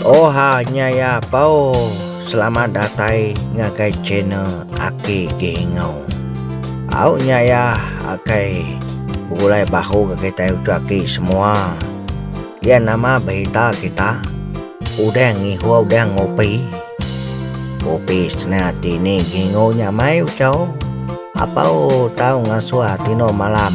Oha nya ya pau selamat datai ngagai channel aki gingau. Au nya ya akai begulai bahu gak kitai uchu aki semua. Ya nama berita kita udah ngihuh udah ngopi. Kopi sena ati ni gingau nya mai uchu. Apau tau ngasuh tino malam.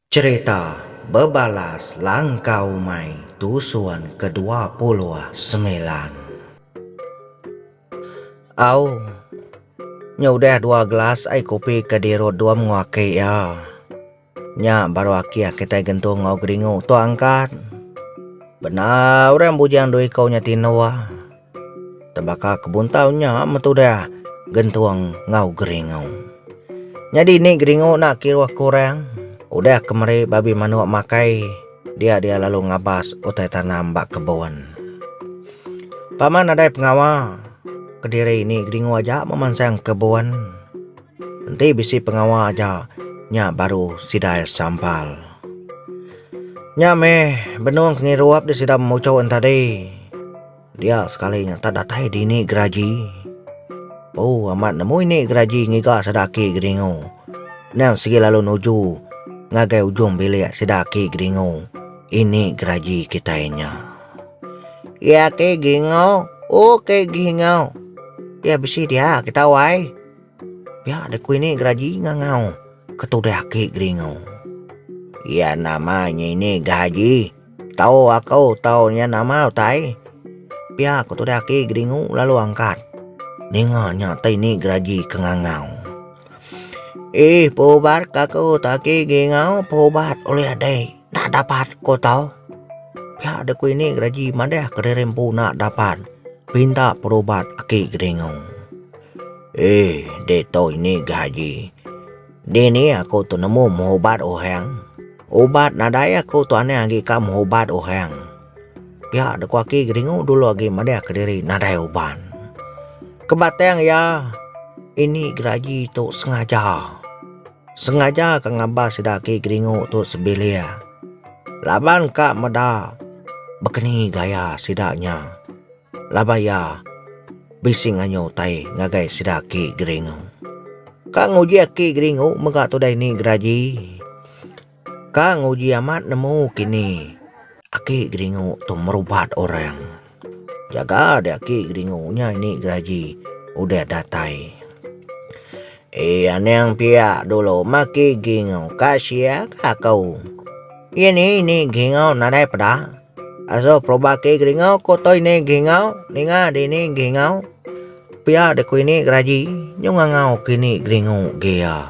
Cherita bebalas langka umai tusun ke dua puluh semilan. Au. Nya udah dua gelas ai kopi ke dirut dua mengu aki iya. Nya baru akih kitai gentung enggau geringu tua angkat. Bendar orang bujang dua iku nya tinduk. Tebaka ke buntau nya metudah gentung enggau geringu. Nyadi ni geringu enda kira kurang, udah ke meri babi manuk makai dia dia lalu ngabas utai tanam ba kebun. Paman nadai pengawa kediri ni geringu aja memansang kebun. Enti bisi pengawa aja nya baru sidai sambal. Nya meh benung pengirup di sida memuchun tadi. Dia sekali nya tak datai dini geraji. Bau amat nemu ini geraji ngiga sida aki Geringo. Endang sigi lalu nuju ngagai ujung bilik sida aki Geringo ini geraji kitai nya. Iya aki Geringo, o aki Geringo. Iya bisi dia aki tau ai. Pia deh kui ni geraji ngangau ke tudeh aki geringu. Iya nama nya ini gaji tau aku tau iya nama utai. Pia ko tudeh aki geringu lalu angkat ninga nya tai ni geraji ke ngangau. Eh pubat ka aku taki gingau pubat ulih deh. Enda dapat ko tau. Pia deh ko ini graji madeh kediri empu enda dapat pinta perubat aki kedingu. Ee ditu ini gaji dini aku tu nemu mubat oheng ubat nadai aku tu aneh agi ka mubat oheng. Pia deh ko aki kedingu dulu agi madeh kediri nadai uban. Kebatang iya ini graji tu sengaja. Sengaja ka ngambah sida agi geringu tu sebilik laban ka meda bekeni gaya sida nya laban iya bisi nganyu utai ngagai sida agi geringu. Ka nguji agi geringu mega tudai ni geraji. Ka nguji amat nemu kini. Aki geringu tu merubat orang. Jaga deh aki geringu nya ini geraji udah datai. Eh anang pia dulu meh aki geringu ka sia ka aku. Iya ni ini geringu nadai peda. Aso perubat aki geringu ku tu ini geringu ninga dini geringu. Pia deh ku ini geraji nyungangau kini geringu ge iya.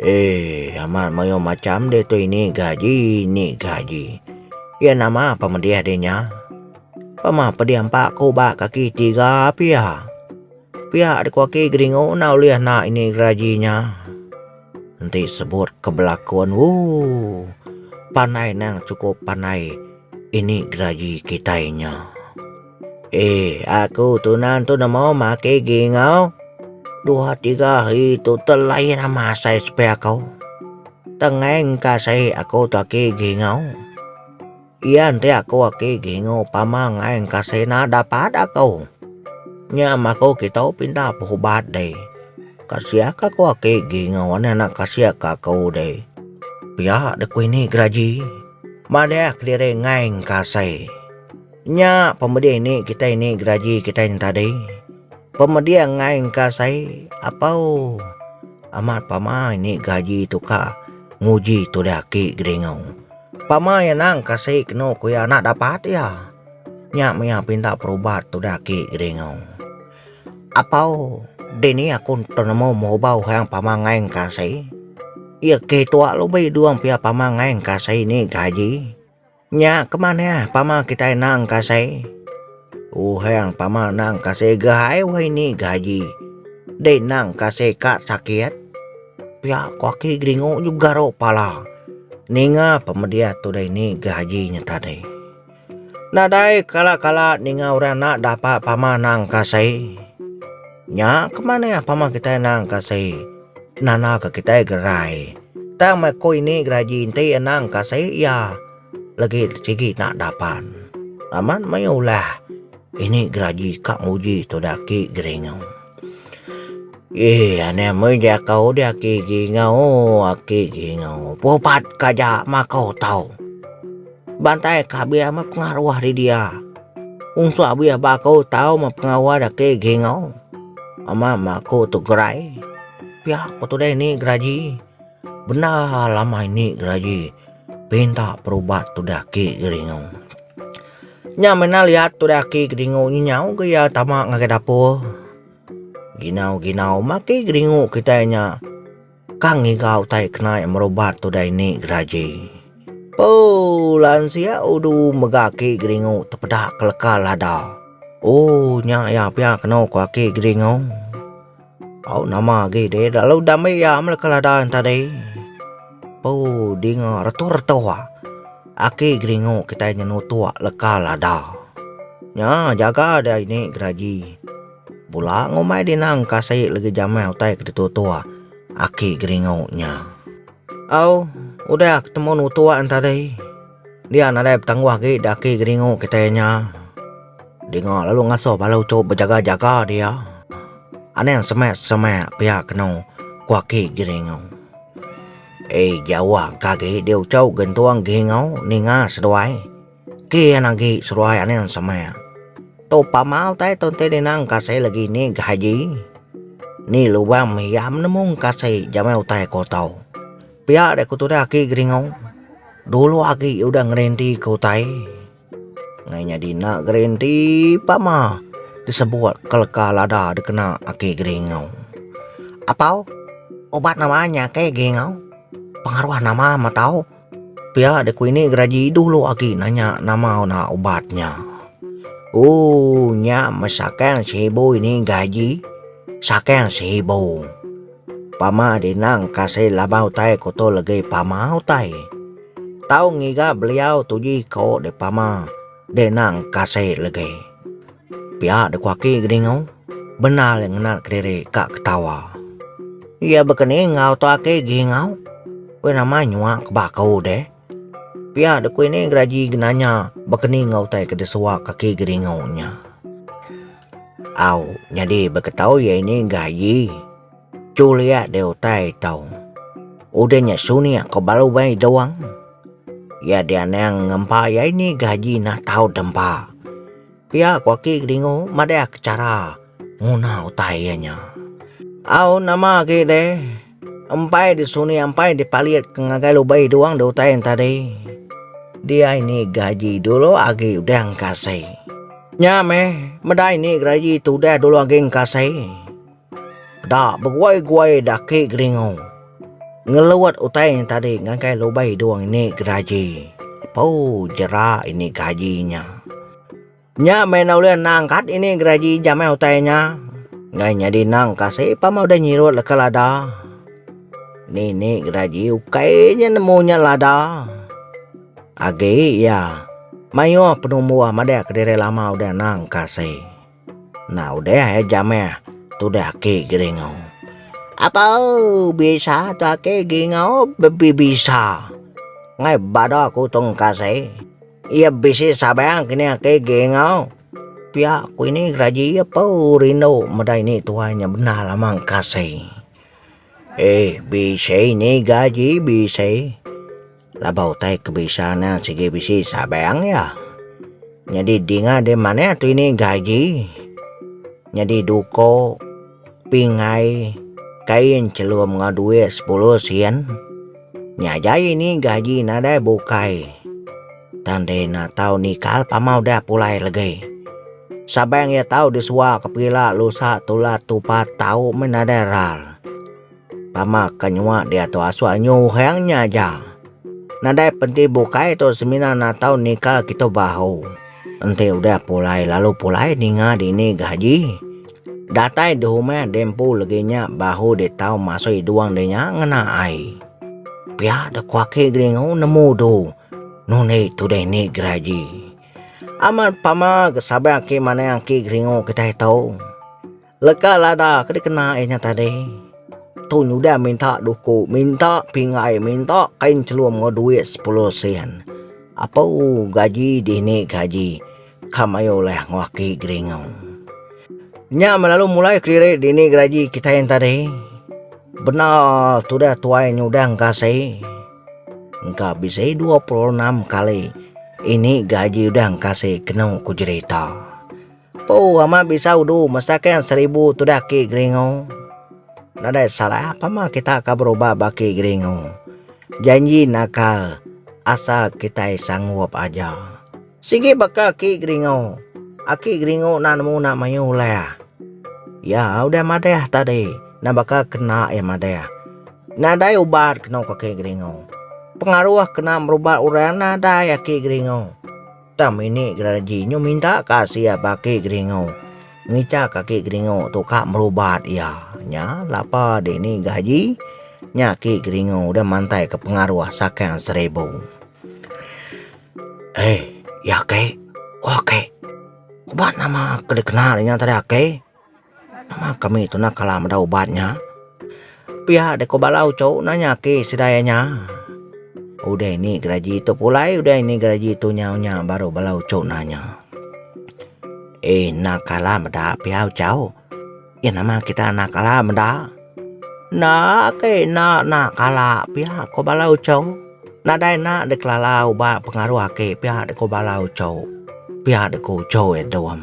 Eeh amat mayuh macham ditu ini gaji ini gaji. Iya nama pemedih dih nya. Pemah pedih empa ku ba kaki tiga pia. Pia ku aki geringu enda ulih enda ini gaji nya. Enti sebut ke belakon ooh pandai nang sukup pandai. Ini geragi kitai nya. Eh, aku tu nan tu nemu maki gingau. Dua tiga hari tu telain ama asai sepi aku. Tengai engka sai aku tu aki gingau. Iya enti aku aki gingau pama ngai engka sai na dapat aku. Nya maku kitu pinta berubat deh. Kasiah ka aku aki gingau anak kasiah ka aku deh. Pia deh ku ini geragi. Madah kediri ngaing ka asai. Nya pemedih ni kitai ni geraji kitai nyentadi. Pemedih ngaing ka asai apau amat pama ini gaji tu ka nguji tudah ki geringu. Pama iya nang kasai kenu ku iya anak dapat iya. Nya mia pinta perubat tudah ki geringu. Apau, dini aku tenemu mubau hang pama ngai engkasi? Iya keh tua lubi duang pia pama ngai engkasi ni gaji. Nya kemanah pama kitai nang engkasi? Tuhang pama nang engkasi gai weh ni gaji. Deh nang engkasi ka sakit? Pia ko aki geringu juga ro pala ninga pemediah tu deh ni gaji nya tadi. Nadai kala-kala ninga orang enda dapa pama anang ka sai. Nya ke manah pama kitai anang ka sai nanda ka kitai gerai. Tang meh ko ini gerai ji enti anang ka sai iya legi sigi enda dapan. Amat mayuh ulah ini gerai ji ka nguji tudak agi geringa. Ih ane mei jakau di aki jingau aki jingau pupat ka ja makau tau. Bantai ka bia me pengaruh di dia. Ung suak bia bakau tau me pengawa de aki jingau. Ama ma ku tu gerai pia ko tu dei ni geraji. Bendar lamai ni geraji pinta perubat tudah aki geringu. Nya mena liat tudah aki geringu nyi nyau ke iya tama ngagai dapur. Ginau-ginau maki geringu kitai nya ka ngiga utai kenai merubat tudah ini geraji. Ooh lansia udu mega aki geringu tepeda keleka lada. Ooh nya iya pia keno ko aki geringu. Au nama agi deh lalu dame iya mela ke ladan tadi. Pau dinga retua-retua. Aki geringu kitai nyenutuk leka lada. Nya jaga deh ini geraji. Bula ngumbai dinang kasih legi jamai utai ke ditutuk aki geringu nya. Au udah ketemu nutuk tadi. Dia nadai betangguh agi di aki Geringu kitai nya. Dinga lalu ngasuh bala uchu bejaga-jaga dia. Anang semak-semak pia kenu ku aki Geringu. Ei jauh ka agi dia uchu gentung Geringu ninga seduai. Kin agi seduai anang semak. Tu pama utai tu enti ninang kasai lagi ni gaji. Ni lubang mih iya menemu kasai jama utai ko tau. Pia dek ku tudah aki Geringau, dulu agi iya udah ngerenti ke utai, ngai nyadi enda gerenti pa ma disebut ke leka lada dikena aki Geringau. Apau uban nama nya aki Geringau pengaruh nama meh tau pia dek ku ini geraji dulu agi nanya nama na ubat nya. Ooh nya meh saking seribu ini gaji saking seribu. Pama di endang kasih laba utai kuto legi pama utai. Tau ngiga beliau tuji ko di pama di endang kasih legi. Pia di kuaki Geningau bendar iya ngenat kediri ka ketawa. Iya bekeni enggau tu aki Gingau weh nama nyua ke baku deh. Pia di kuini geraji genanya bekeni enggau utai ke disua kaki Geningau nya. Au, nyadi beketau iya ini enggah aji. Chul iya deh utai tau. Udah nya suni aku balu mai dewang. Iya deh anang ngempa iya ini enggah aji nah tau dempa. Pia ku aki Kedingu madahka chara nguna utai iya nya. Au nama agi deh. Empai di suni ampai di palit ke ngagai lubai duang di utai enta di. Dia ini gaji dulu agi udah engkasai. Nya meh, meda ini gaji tu udah dulu agi engkasai. Da beguai-guai daki geringu. Ngeluat utai enta di ngagai lubai duang ini gaji. Pau jera ini gaji nya. Nya meh enda ulih nang kat ini geraji jam eh utai nya. Enggai nyadi nang kasi pama udah nyirut leka lada. Nini geraji ukai nya nemu nya lada. Agi iya maioh penumbuh madah kediri lama udah nang kasi. Enda udah eh jam eh tudah aki Geringau. Apau bisa tu aki Geringau bebisa. Enggai bada ku tung kasi. Iya bisi sabang ke nya ke ge enggau. Pia ku ini raji iya pau rindu meda ini tuai nya bendar amat kasai. Eh bisi ini gaji bisi laban utai ke bisa nya sigi bisi sabang iya. Nyadi dinga dia manah tu ini gaji nyadi duko. Pingai kain chelum enggau duit sepuluh sen. Nya jai ni gaji nadai bukai. Tang deh ena tau nikal pama udah pulai legai. Sabang iya tau disuaka pila lusa tulat tupa tau meh nadai ral. Tama ka nyua diatu asua nyu uhang nya aja. Nadai penti bukai tu semina natau nikal kitu bahu. Enti udah pulai lalu pulai ninga dini gaji. Datai di humah di empu legi nya bahu ditau masui duang di nya ngena ai. Pia da kuaki Gringo nemu du nundi tudah ni geraji. Amat pama ke sabar aki manah aki Gringo kitai tu. Leka lada ke dikena iya nya tadi, tu nyudah minta duku, minta pingai, minta kain chelum enggau duit sepuluh sen. Apeuu gaji dini gaji ka mayuh ulih enggau aki Geringau. Nya meh lalu mulai kelirik dini gaji kitai yen tadi, bendar tudah tuai nyudah engkasi, engka bisi dua puluh enam kali ini gaji udah engkasi kenu ku jerita. Empu amat bisa udu mesakka seribu tudah ki geringu. Nadai salah pama kita ka berubah ba ki geringu. Janji nakal asal kitai sanggup aja. Sigi baka ki geringu, aki geringu enda nemu enda mayuh ulah. Iya udah madah tadi enda baka kena iya madah. Nadai ubat kena ku aki geringu. Pengaruh kena merubat orang nadai aki geringu. Tam ini geraraji nyu minta ka sia baki geringu. Ngica kaki geringu tu ka merubat iya. Nya lapa dini gaji nya ki geringu udah mantai ke pengaruh saking seribu. Hei, iya aki, oh aki. Kuba nama ke dikenal inya tadi aki? Nama kami tu nah kala meda ubat nya. Pia deh ko bala uchu nanya ake sida iya nya. Udah ini geragi tu pulai udah ini geragi tu nyau nya baru bala uchu nanya. Eh enda kala meda pia uchu. Iya nama kita enda kala meda. Enda ake enda enda kala pia ko bala uchu. Nadai enda deh kelala ubat pengaruh ake pia deh ko bala uchu. Pia deh ko uchu iya tu em.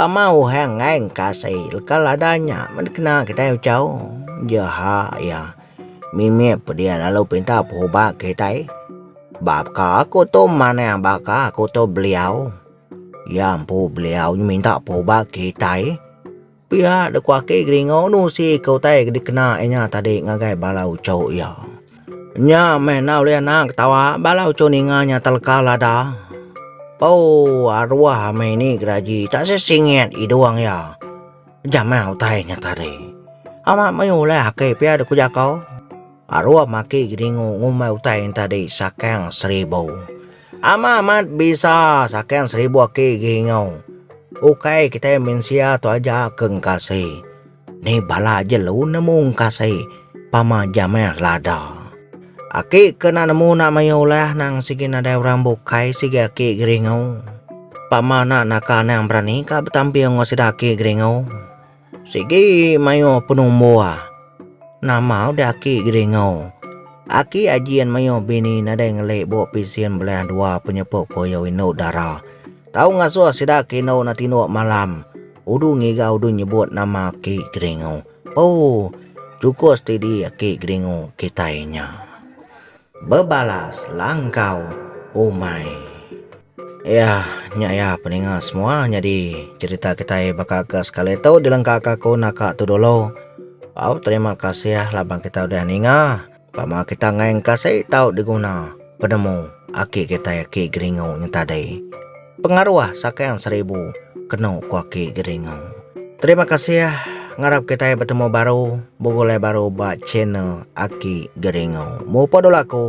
Pama uhang enggai engkasi leka lada nya men dikena kitai uchau jeha iya mimit pediah lalu pinta pehuba kitai baka aku tu manah baka aku tu beliau iya empu beliau minta pehuba kitai pia deka agi geringu nusi ke utai dikena inya tadi ngagai bala uchu iya. Nya meh enda ulih anak ketawa bala uchu ninga nya teleka lada. Ooh aruah meh ini geraji tak se singit idung iya. Ejam meh utai nya tadi. Amat mayuh ulih ake pia dek ku jako. Aruh maki gedingu ngumbai utai nya tadi sakang seribu. Ama amat bisa sakang seribu aki geingu. Ukai kitai mensia tu aja ke ngkasi. Ni bala jelu nemu engkasi pama jameh lada. Aki ke enda nemu enda mayuh ulah nang sigi nadai orang bukai sigi aki geringu. Pama enda naka anang berani ka betampi enggau sida aki geringu. Sigi mayuh penumbuh nama udah aki geringu. Aki ajin mayuh bini nadai ngeli buk pisin belah dua penyepu koyo indu dara. Tau ngasuh sida aki indu enda tinduk malam. Udu ngiga udu nyebut nama aki Geringu. Poo. Cukup setidi aki Geringu kitai nya. Bebalas langkau umai. Iya nya iya peninga semua nyadi cerita kitai baka ke sekali tu dilengkaka aku naka tu dulu. Au terima kasih laban kitai udah ninga. Pama kita ngae engka sei tau diguna penemu aki kitai aki Geringu nya tadi. Pengaruh sakang seribu kenu ku aki Geringu. Terima kasih ngarap kitai betemu baru begulai baru ba channel aki Geringu. Mupa dulu aku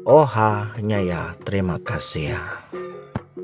Oha Nyaya terima kasih.